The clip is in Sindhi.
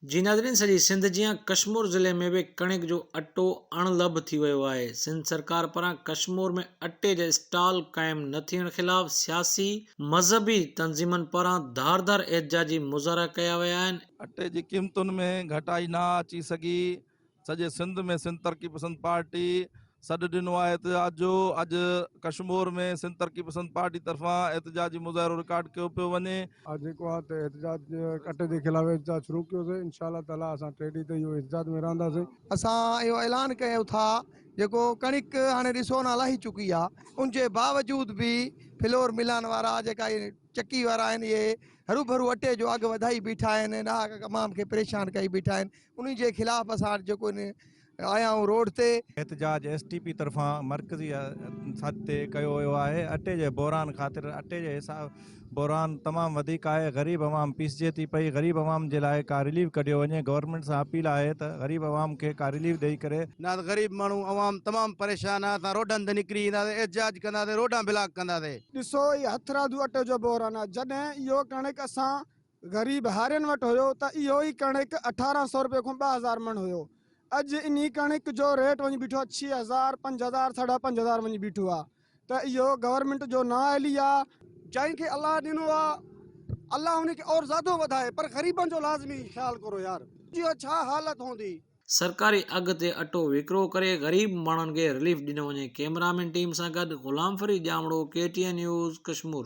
جي ناظرين سڄي سنڌ جيان ڪشمور ضلعي ۾ به ڪڻڪ جو اٽو اڻ لڀ ٿي ويو آهي سنڌ سرڪار پران ڪشمور ۾ اٽي جا اسٽال قائم نه ٿيڻ خلاف سياسي مذهبي تنظيمن پاران ڌار ڌار احتجاجي مظاهرا ڪيا ويا آهن. اٽي جي قيمتن ۾ گهٽائي نه اچي سگهي سڄي سنڌ ۾ سنڌ ترقي پسند پارٽي سڏ ڏنو آهي احتجاج جو اڄ ڪشمور ۾ سنڌ ترقي پسند پارٽي طرفان احتجاجي مظاهرو رڪارڊ ڪيو پيو وڃي. اڄ جيڪو آهي ته احتجاج ڪٽ جي خلاف احتجاج شروع ڪيو سين انشاء الله تعالي اسان ٽي ڏينهن تائين اهو احتجاج ۾ رهنداسين. اسان اهو اعلان ڪيو ٿا جيڪو ڪڻڪ هاڻي ڏسو نه لهي چڪي آ ان جي باوجود به فلور ملان وارا جيڪا اهي چڪي وارا آهن اهي هروڀرو اٽي جو اگهه وڌائي بيٺا آهن ڏاهڪ عوام کي پريشان ڪئي بيٺا آهن انهي جي خلاف اسان جيڪو هن آيا آهيون روڊ تي. احتجاج ايس ٽي پي طرفان مرڪزي سڏ تي ڪيو ويو آهي اٽي جي بحران خاطر اٽي جي حساب بحران تمام وڌيڪ آهي غريب عوام پيسجي ٿي پئي غريب عوام جي لاء ڪا رليف ڪڍيو وڃي گورنمينٽ سان اپيل آهي ته غريب عوام کي ڪا رليف ڏئي ڪري نه ته غريب ماڻهو عوام تمام پريشان آهي اسان روڊن تي نڪري اينداسين احتجاج ڪنداسين روڊان بلاڪ ڪنداسين. ڏسو هي هٿرادو اٽي جو بحران آهي جڏهن اهو ڪڻڪ اسان غريب هارين وٽ هيو ته اهو ئي ڪڻڪ اٺارهن سئو رپيي کون ٻه هزار مڻ هيو. اڄ انهي ڪڻڪ جو ريٽ وڃي بيٺو آهي ڇهه هزار، پنج هزار، ساڍا پنج هزار وڃي بيٺو آهي ته اهو گورنمينٽ جو نااهلي آهي. جنهن کي الله ڏنو آهي الله ان کي اور زيادو وڌائي پر غريبن جو لازمي خيال ڪرو يار جي اها ڇا حالت هوندي. سرڪاري اگهه تي اٽو وڪرو ڪري غريب ماڻهن کي رليف ڏنو وڃي ڪيمرامين ٽيم سان گڏ Ghulam Farid Jamro K T N news Kashmore.